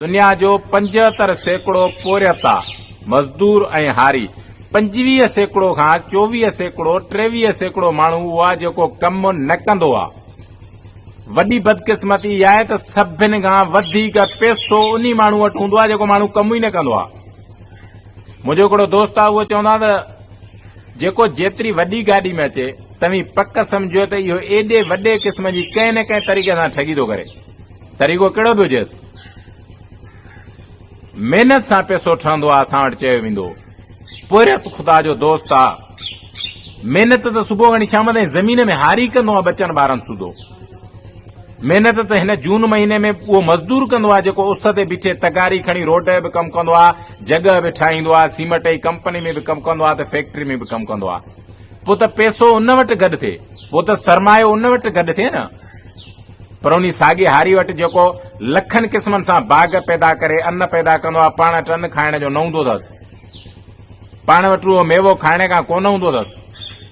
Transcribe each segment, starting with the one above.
دنيا جو پنجهتر سيڪڙو پورهيتا، مزدور ۽ هاري، پنجويهه سيڪڙو کان چوويهه سيڪڙو، ٽيويهه سيڪڙو ماڻهو اهو آهي جيڪو ڪم نه ڪندو آهي. وڏي بدقسمتي اها آهي ته سڀن کان وڌيڪ پيسو انهي ماڻهو وٽ هوندو آهي جيڪو ماڻهو ڪم ئي نه ڪندو آهي. منهنجو هڪڙو دوست آهي اهو چوندو آهي ته جيڪو جيتري وڏي گاڏي ۾ اچي توهين پڪ سمجهو ته اهو ايڏي وڏي قسم جي ڪنهن نه ڪنهن طريقي سان ٺڳي ٿو ڪري. طريقو ڪهڙو به هجيس. محنت سان پيسو ٺهندو آ اسان وٽ چيو ويندو پورهيت خدا جو دوست آ محنت ته صبح کان شام تائين زمين ۾ هاري ڪندو آ ٻچن ٻارن سوڌو محنت ته هن جون مهيني ۾ اهو مزدور ڪندو آ جيڪو اس تي بيٺي تغاري کڻي روڊ به ڪم ڪندو آ جڳهه به ٺاهيندو آ سيمٽ جي ڪمپني ۾ به ڪم ڪندو آ ته فيڪٽري ۾ به ڪم ڪندو آ پوء ته پيسو ان وٽ گڏ ٿئي پوء ته سرمايو ان وٽ گڏ ٿئي نه پر انهي ساڳي هاري وٽ جيڪو لکن قسمن سان باغ پيدا ڪري ان پيدا ڪندو آهي پاڻ وٽ ان کائڻ جو نه هوندو اٿس. پاڻ وٽ اهو ميوو کائڻ کان ڪونه هوندو اٿس.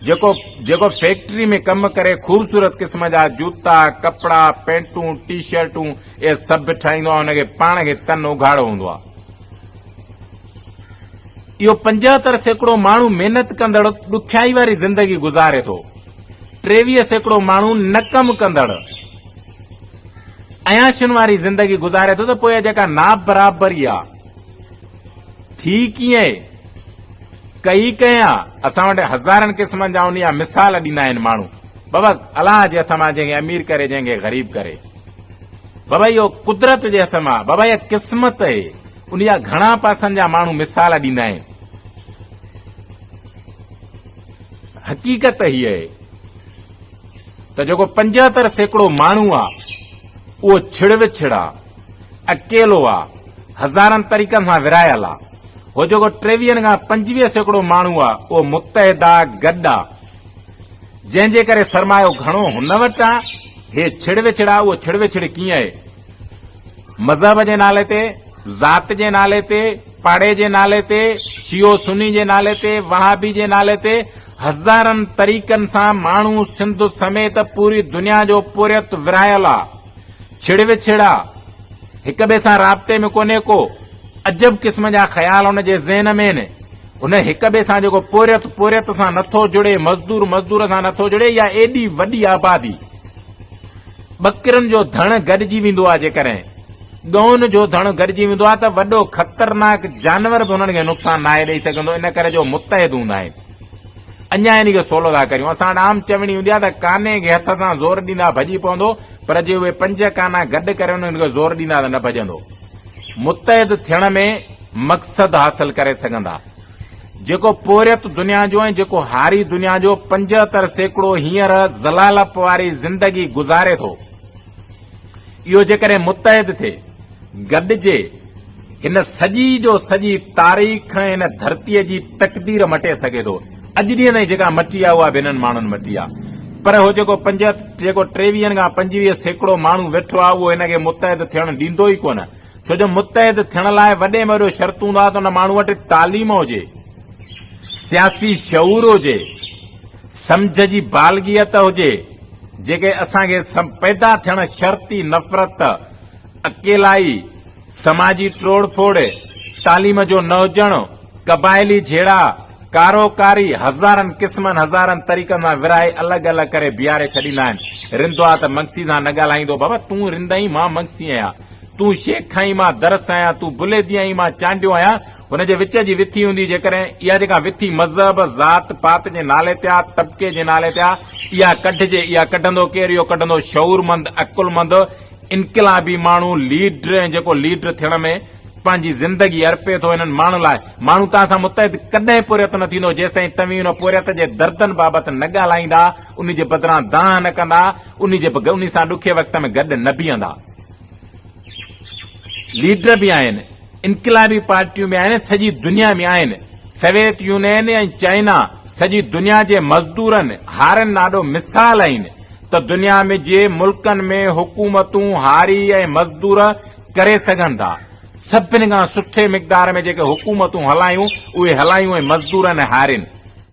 جيڪو جيڪو فيڪٽري ۾ ڪم ڪري خوبصورت قسم جا جوتا، ڪپڙا، پينٽون، ٽي شرٽون اهي سڀ ٺاهيندو آهي ان کي پاڻ کي تن اگهاڙو هوندو آهي. اهو پنجهتر سيڪڙو ماڻهو محنت ڪندڙ ڏکيائي واري زندگي گذاري ٿو. ٽيويهه سيڪڙو ماڻهو نه ڪم ڪندڙ عياشين واري زندگي گذاري ٿو ته پوء اها جيڪا نابرابري آ ٿي ڪيئن ڪئي ڪنهن آ اسان وٽ هزارن قسمن جا انهيا مثال ڏيندا آهن ماڻهو بابا الله جي هٿ مان جنهن کي امير ڪري جنهن کي غريب ڪري بابا اهو قدرت جي هٿ مان بابا اها قسمت اهي انهيا گهڻا پاسن جا ماڻهو مثال ڏيندا آهن حقيقت هيء اهي ته جيڪو پنجهتر سيڪڙو ماڻهو آ اهو ڇڙ وڇڙ آ، اڪيلو آ، هزارن طريقن سان ورهايل آ. هو جيڪو ٽيويهن کان پنجويهه سيڪڙو ماڻهو آ اهو متحد آ، گڏ آ. جنهن جي ڪري سرمايو گهڻو هن وٽ آ. هيء ڇڙ وڇڙ آ، اهو ڇڙ وڇڙ ڪيئن اهي؟ مذهب جي نالي تي، ذات جي نالي تي، پاڙي جي نالي تي، شيعو سني جي نالي تي، وهابي جي نالي تي هزارن طريقن سان ماڻهو سنڌ سميت پوري دنيا جو پورهيت ورهايل آ. ڇڙ وڇڙ آ. هڪ ٻئي سان رابطي ۾ ڪونهي ڪو. عجب قسم جا خيال ان جي ذهن ۾ هن. هن هڪ ٻئي سان جيڪو پورهيت پورهيت سان نٿو جڙي، مزدور مزدور سان نٿو جڙي يا ايڏي وڏي آبادي. ٻڪرين جو ڌڻ گڏجي ويندو آهي جيڪڏهن ڳئن جو ڌڻ گڏجي ويندو آهي ته وڏو خطرناڪ جانور به انهن کي نقصان ناهي ڏئي سگهندو ان ڪري جو متحد هوندا آهن اڃا ان کي سولو ٿا ڪريون اسان وٽ عام چوڻي هوندي آهي ته ڪاني کي هٿ سان زور ڏيندا ڀڄي پوندو پر جي اهي پنج ڪانا گڏ ڪري انهن کي زور ڏيندا ته نه ڀڄندو متحد ٿيڻ ۾ مقصد حاصل ڪري سگهندا. جيڪو پورهيت دنيا جو ۽ جيڪو هاري دنيا جو پنجهتر سيڪڙو هينئر ذلالپ واري زندگي گذاري ٿو، اهو جيڪڏهن متحد ٿئي، گڏجي، هن سڄي جو سڄي تاريخ ۽ هن ڌرتيء جي تقدير مٽي سگهي ٿو. اڄ ڏينهن تائين جيڪا مٽي آهي، اها به هنن ماڻهن مٽي آهي. پر اهو جيڪو پنجهتر، جيڪو ٽيويهن کان پنجويهه سيڪڙو ماڻهو ويٺو آهي، اهو هن کي متحد ٿيڻ ڏيندو ئي ڪونه. ڇو جو متحد ٿيڻ لاء وڏي ۾ وڏو شرط هوندو آهي ته ان ماڻهو وٽ تعليم هجي، سياسي شعور هجي، سمجهه جي بالغيت هجي، جيڪي اسان کي پيدا ٿيڻ شرط ئي نفرت، اڪيلائي، سماجي ٽوڙ ڦوڙ، تعليم جو نه هجڻ، قبائلي جهيڙا، ڪارو ڪاري هزارن قسمن هزارن طريقن سان ورهائي الڳ الڳ ڪري بيهاري ڇڏيندا آهن. رندو آ ته منگسي سان نه ڳالهائيندو، بابا تون رند آهين مان منگسي آهيان. تون شيخ کائين مان درس آهيان، تون بلهي ديائين مان چانڊيو آهيان، هن جي وچ جي وٿي هوندي جيڪڏهن اها جيڪا وٿي مذهب، ذات پات جي نالي تي آهي، طبقي جي نالي تي آهي، اها ڪڍجي، اها ڪڍندو ڪير؟ اهو ڪڍندو شعورمند، عقلمند، انقلابي ماڻهو، ليڊر ۽ جيڪو ليڊر ٿيڻ ۾ پنهنجي زندگي ارپي ٿو انهن ماڻهن لاء. ماڻهو توهان سان متحد ڪڏهن پورهيت نه ٿيندو جيستائين توهين ان پورهيت جي دردن بابت نه ڳالهائيندا، ان جي بدران دانهن نه ڪندا، ان جي انهي سان ڏکي وقت ۾ گڏ نه بيهندا. ليڊر به آهن، انقلابي پارٽيون به آهن ۽ سڄي دنيا ۾ آهن. سويت يونين ۽ چائنا سڄي دنيا جي مزدورن هارين لا آڏو مثال آهن ته دنيا ۾ جي ملڪن ۾ حڪومتون هاري ۽ مزدور ڪري سگهن ٿا. سڀني کان سٺي مقدار ۾ جيڪي حڪومتون هلايون اهي هلايون ۽ مزدورن ۽ هارين.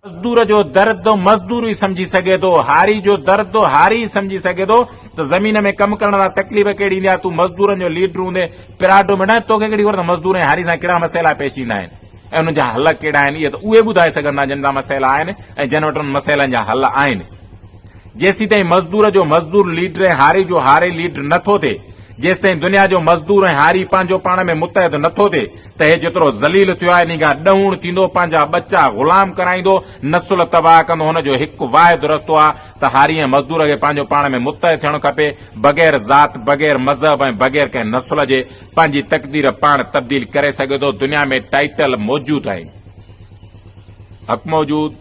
مزدور جو درد مزدور ئي سمجهي سگهي ٿو، هاري جو درد هاري ئي سمجهي سگهي ٿو ته زمين ۾ ڪم ڪرڻ وارا تڪليف ڪهڙي ايندي آهي، تون مزدورن جو ليڊر هوندي پراڊو ۾ نه، توکي ڪهڙي خبر ته مزدور ۽ هاري سان ڪهڙا مسئلا پيش ايندا آهن ۽ انهن جا حل ڪهڙا آهن، اهي ته اهي ٻڌائي سگهن ٿا جن سان مسئلا آهن ۽ جن وٽ انهن مسئلن جا حل آهن. جيسيتائين مزدور جو مزدور ليڊر ۽ هاري جو هاري ليڊر نه ٿو ٿئي، جيسيتائين دنيا جو مزدور ۽ هاري پنهنجو پاڻ ۾ متحد نه ٿو ٿئي، تهي جيترو ذليل ٿيو آهي نينگا ڏهوڻ ٿيندو پنهنجا ٻچا غلام ڪرائيندو نسل تباهه ڪندو هن جو هڪ واحد رستو آهي ته هاري ۽ مزدور کي پنهنجو پاڻ ۾ متحد ٿيڻ کپي بغير ذات بغير مذهب ۽ بغير ڪنهن نسل جي پنهنجي تقدير پاڻ تبديل ڪري سگهي ٿو دنيا ۾ ٽائيٽل موجود آهن حق موجود